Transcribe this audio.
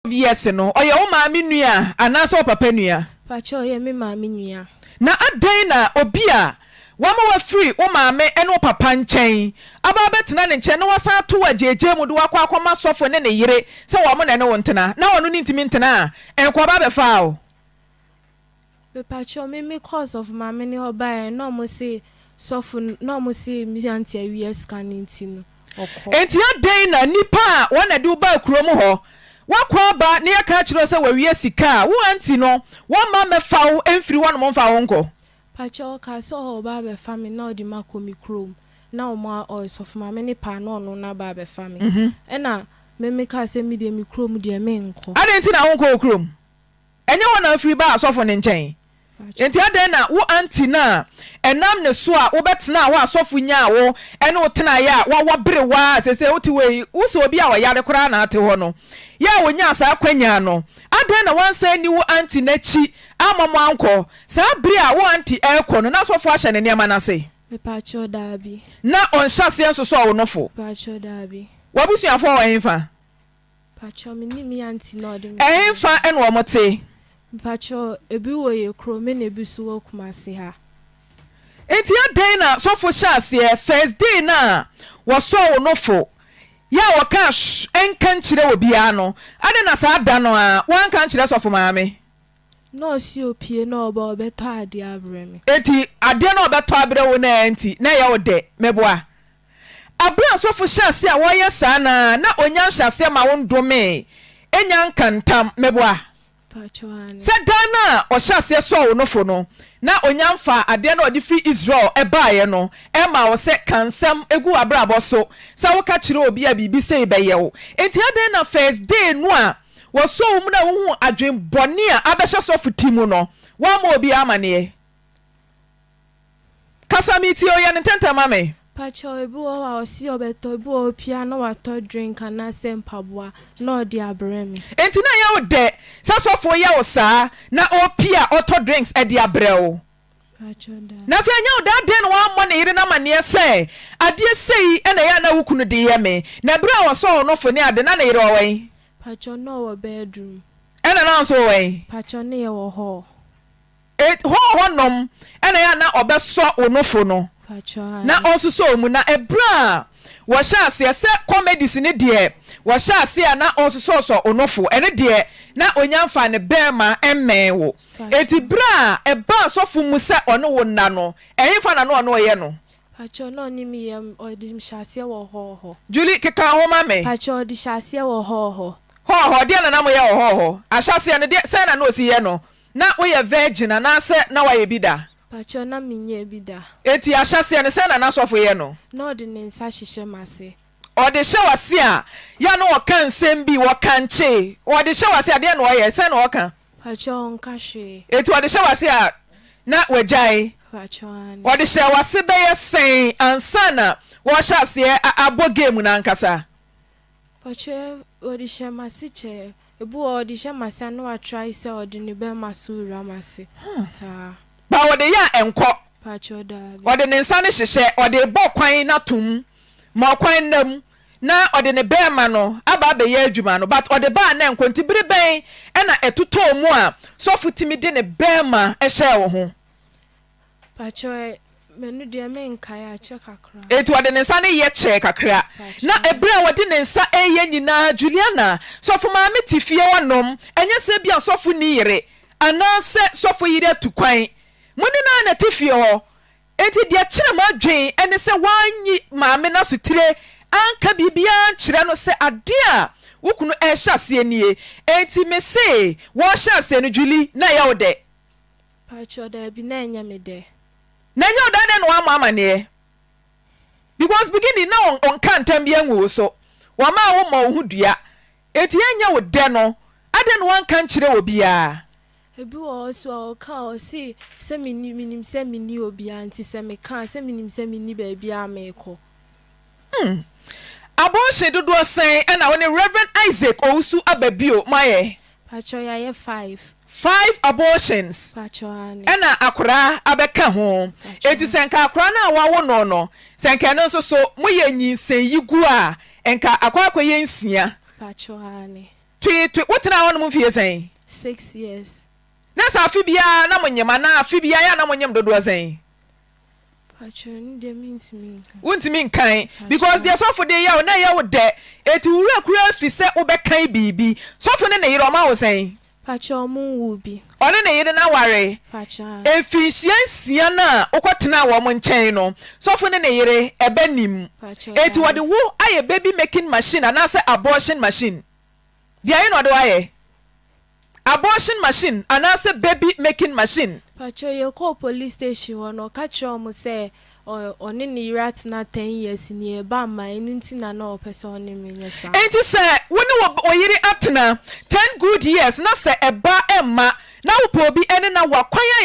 obvious no, ɔyɛ wo maame nua anaasɛ wo papa nua? Pakyɛ ɔyɛ me maame nua. Na adɛn na obi a wama wafiri wo maame ne wo papa nkyɛn aba abɛtena ne nkyɛn na wasan ato wo agyeegye mu de wo akɔ akɔma sɔfo ne ne yere sɛ wɔn na ɛne wo ntena na ɔno ne ntumi ntena a, nkoaba bɛfaa wo? Mepakyɛw me me kɔɔ sɔfo maame ne hɔ bae a na ɔmo se sɔfo no na ɔmo se me aunty awia sika no nti no ɔkɔ. Enti adɛn na nnipa a wɔn na ɛde wo baa kurom hɔ wakɔ aba na yɛka akyerɛ wo sɛ wawia sika a wo aunty no wɔmma mmɛfa wo mfiri hɔnom mfa wo nkɔ? Pakyɛw ɔkaa sɛ ɔɔ ɔba abɛfa me na ɔde me akɔ me kurom na ɔmo a ɔɔ sɔfo maame ne paa na ɔno no aba abɛfa me ɛna me me kaa sɛ me deɛ me kurom deɛ menkɔ. Adɛn nti na wonkɔ wo kurom? Ɛnyɛ hɔ na afiri baa asɔfo no nkyɛn. Enti adɛn na wo auntie no a ɛnam ne so a wobɛtenaa hɔ a sɔfo nyaa wo ne wo tenaeɛ a wawa berew ara a seesei wote hɔ yi, wo sɛ obi a ɔyare koraa na ate hɔ no, yɛ a ɔnyaa saa akwannya no? Adɛn na woansan anni wo auntie no akyi amma mo ankɔ? Saa bere a wo auntie rekɔ no, na asɔfo ahyɛ ne nneɛma no ase? Mepakyɛw, Dabi. Na ɔnhyɛ aseɛ nsosɔɔ wo nofo? Mepakyɛw, Dabi. W'abusuafoɔ wɔ hefa? Pakyɛw me nim me aunty na ɔde me kɔ. Ɛhenfa na wɔn te? Mpakyɛw ebi wɔ yɛ kuro me na ebi so wɔ kumase ha. Nti adɛn na sɔfo hyɛ aseɛ first day no a wɔsɔɔ wo no fo yɛ a wɔkaa shh nka nkyerɛ obiara no adɛn na saa da no ara woanka ankyerɛ sɔfo maame? Na ɔse opie na ɔba ɔbɛtɔ adeɛ abrɛ me. Nti adeɛ na ɔbɛtɔ abrɛ wo no a nti na ɛyɛ wo dɛ? Meboa. Bere a asɔfo hyɛɛ ase a wɔreyɛ saa no ara na onya nhyɛaseɛ ma wondomee Enya nka ntam. Meboa? Sɛ daa no a ɔhyɛ aseɛ sɔɔ wo nofo no na onya mfaa adeɛ no a ɔde firi Israel baeɛ no mmaa wo sɛ ka nsɛm gu w'abrabɔ so sɛ woka kyerɛ obi a biribi sei bɛyɛ wo. Enti adɛn na first day no a wɔsɔɔ wo mu no a wohuu adwene bɔne a abɛhyɛ sɔfo ti mu no woammɔ obiara amaneɛ? Kasa metie o yɛ no ntɛntɛm ma me. Pakyɛw ebi wɔ hɔ a ɔse ɔbɛtɔ ebi wɔ hɔ pia na watɔ drink anaasɛ mpaboa na ɔde abrɛ me. Enti na ɛyɛ wo dɛ sɛ sɔfo yɛ wo saa na ɔpia ɔtɔ drinks de abrɛ wo? Pakyɛw daa. Na afei ɛnyɛ wo dɛ adɛn na wammɔ ne yere no amanneɛ sɛ adeɛ sei na ɛyɛ a na wo kunu de yɛ me na bere a ɔsɔɔ no fo ne ade na ne yere wɔ wɛn? Pakyɛw na ɔwɔ bedroom. Ɛna na nso wɔ wɛn? Pakyɛw ne yɛ wɔ hall. It hɔ hɔ nom na ɛyɛ a na ɔbɛsɔ wo nofo no na ɔnsosɔ wo mu. Na ɛberɛ a wɔhyɛ aseɛ sɛ comedies no deɛ wɔhyɛ aseɛ a na ɔnsosɔsɔ wo nofo ɛno deɛ na ɔnya mfaa ne barima mmɛn wo. Enti berɛ a ɛbaa asɔfo mu sɛ ɔne wo nna no ɛhefa na na ɔne wo yɛ no? Pakyɛw, na ɔne me yɛ, ɔde me hyɛ aseɛ wɔ hɔɔ hɔ. Julie, keka ho ma me. Pakyɛw, ɔde hyɛ aseɛ wɔ hɔɔ hɔ. Hɔɔ hɔ, deɛn na na mo yɛ wɔ hɔɔ hɔ? Ahyɛaseɛ no, deɛ, sɛn na na ɔsi yɛ no? Na wo yɛ virgin anaasɛ na wa yɛ bi da? Pakyɛw na me nyɛɛ bi da. Enti ahyɛseɛ no sɛn na na sɔfo yɛ no? Na ɔde ne nsa hyehyɛ m'ase. Ɔde hyɛ w'ase a yɛ na ɔka nsɛm bi, wɔkankye. Ɔde hyɛ w'ase a deɛn na ɔyɛ, sɛn na ɔka? Pakyɛw ɔnka hwee. Enti ɔde hyɛ w'ase a na w'agyae? Pakyɛw aane. Ɔde hyɛɛ w'ase bɛyɛ sɛn ansa na wɔrehyɛ aseɛ abɔ game no ankasa? Ɔkyɛ ɔde hyɛ m'ase kyɛ. Ebi wɔ hɔ ɔde hyɛ m'ase a na watrae sɛ ɔde ne bɛrima so wura m'ase saa. Ba ɔde yɛ a ɛnkɔ. Pakyɛw daabi. Ɔde ne nsa no hyehyɛ ɔde rebɔ kwan no ato mu ma ɔkwan nna mu na ɔde ne bɛrima no aba abɛyɛ adwuma no but ɔde ba a na ɛnkɔ nti bere bɛn na ɛtotɔɔ mu a sɔfo tumi de ne bɛrima hyɛɛ wo ho? Pakyɛw ɛ, mɛno deɛ menkae, akyɛ kakra. Enti ɔde ne nsa no yɛ kyɛɛ kakra. Na bere a ɔde ne nsa reyɛ nyinaa, Juliana, sɔfo maame te fie hɔ nom. Ɛnyɛ sɛ ebia sɔfo nni yere, anaasɛ sɔfo yere atu kwan. Mo ne no ara na ɛte fie hɔ. Enti deɛ ɛkyere m'adwene ne sɛ woanyi maame no asotire anka biribiara ankyerɛ no sɛ ade a wo kunu rehyɛ aseɛ nie. Enti mese, wɔrehyɛ aseɛ no, Julie, na ɛyɛ wo dɛ. Pakyɛw daabi na ɛnyɛ me dɛ. Na ɛnyɛ wo dɛ dɛ na woammɔ amanneɛ because beginning na ɔnka ntam biara ngu wo so, wɔmaa wo mmɔɔ wo ho dua, enti ɛnyɛ wo dɛ no adɛn na woanka nkyerɛ obiara? Ebi wɔ hɔ nso a ɔka a ɔse sɛ menni menim sɛ menni obiara nti sɛ meka a sɛ menim sɛ menni baabiara a merekɔ. Hmm. Abortion dodoɔ sɛn na wo ne Rev. Isaac Owusu aba bio mo ayɛ? Pakyɛw yɛayɛ five. Five abortions Pakyɛw aane. ɛna akoraa abɛka ho. Pakyɛw. Enti sɛ nka akoraa no a wawo no no, sɛ nka ɛno nso so moyɛ nyinsɛnyigu a, nka akɔ akɔyɛ nsia. Pakyɛw aane. Twee twe, wotenaa hɔnom mfie sɛn? Six years. Na sɛ afe biara na monyem anaa afe biara yɛ a na monyem dodoɔ sɛn? Pakyɛw, ne deɛ mentumi nka. Wontumi nkan because deɛ sɔfo de yɛ wo na ɛyɛ wo dɛ eti wo werɛ koraa fi sɛ wobɛkan biribi. Sɔfo ne ne yere ɔma wo sɛn? Pakyɛw, ɔmo nwoo bi. Ɔne ne yere no aware? Pakyɛw. Mfinhyia nsia no a wokɔ tenaa wɔn nkyɛn no, sɔfo ne ne yere ɛba nim? Pakyɛw, dabi. Eti wɔde wo ayɛ baby making machine anaasɛ abortion machine? Deɛn na ɔde wo ayɛ? Abortion machine anaasɛ baby making machine. Pakyɛw yɛkɔɔ police station hɔ no ɔka kyerɛɛ wɔn sɛ ɔne ne yere atena ten years nea ɛba mma ɛno nti na na ɔpɛ sɛ ɔne me nyɛ saa. Enti sɛ wo ne wo yere atena ten good years na sɛ ɛba mma na wopɛ obi ɛne na wo akwan ayɛ.